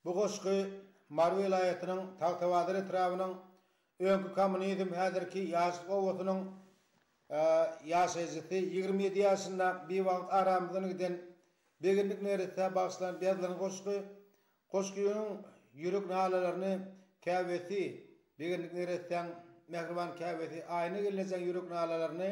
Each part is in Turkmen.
Bu goşgy Mary welaýatynyň Tagtabazar etrabynyň öňki kommunizm, häzirki Ýaşlyk obasynyň ýaşaýjysy, ýigrimi ýedi ýaşynda biwagt aramyzdan giden Begendik neresse bagyşlanyp ýazylan goşgy. Goşgynyň ýürek nalalaryny käbesi, Begendik neressäň mähriban käbesi Aýna gelnejeň ýürek nalalaryny,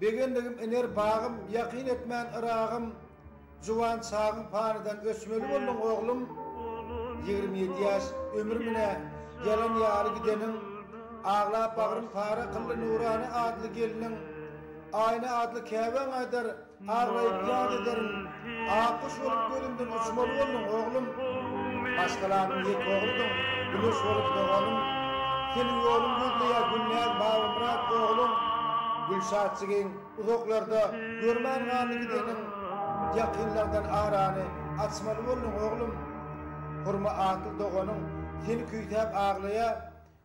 Begendigim iner bagym, Ýakyn etmän Yragym, Juwan çagyň panydan Öçmeli bolduň oglum. Ýigrimi ýedi ýaş ömür munä Ýalan ýaly gideniň, Aglap bagryn para kyldy Nurana adly gelniň. Aýna adly käbäň aýdar, Aglaýyp ýat ederin, Akguş bolup gözümden uçmaly bolduň, oglum. Maşgalanyň ýeke ogludyň, Güneş bolup doganym. Seniň ýoluň gözleýär Gülnäz, Babamyrat, oglum. Gülşatjygyň uzaklarda, görmän galdy gideniň. Ýakynlardan arany açmaly bolduň, oglum. Hurma atly doganyň, seni küýsäp aglaýar.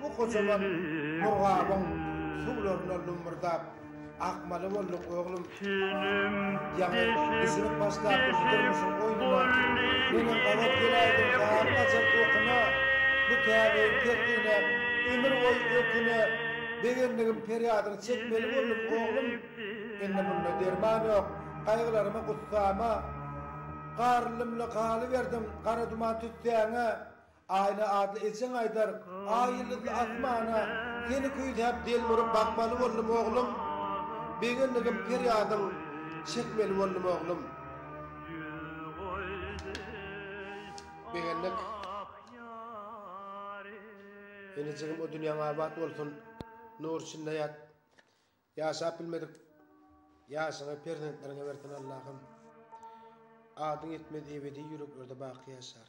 Bu gojaman murgabyň suwlaryna lummurdap akmaly bolduk, oglum. Ýaňy düşünip başlapdygyň durmuşyň oýnuna. Menem gabat geläýdim gary gaçan okuna, bu täbegiň tertine ömür boýy öküne. Begendigim perýadyňy çekmeli boldum, oglum. Indi munda derman ýok, gaýgylaryma, gussama. Garry-lymly galyberdim, gara duman tüssäňe. Aýna adly ejeň aýdar, Aý ýyldyzly asmana Seni küýsäp delmuryp bakmaly boldum oglum Begendigim perýadyň çekmeli boldum oglum Begendik Enejigim o dünýäň abat bolsun nur içinde ýat Ýaşap bilmedik ýaşyňy perzentleriňe bersin Allahym Adyň ýetmez ebedi ýüreklerde baky ýaşar.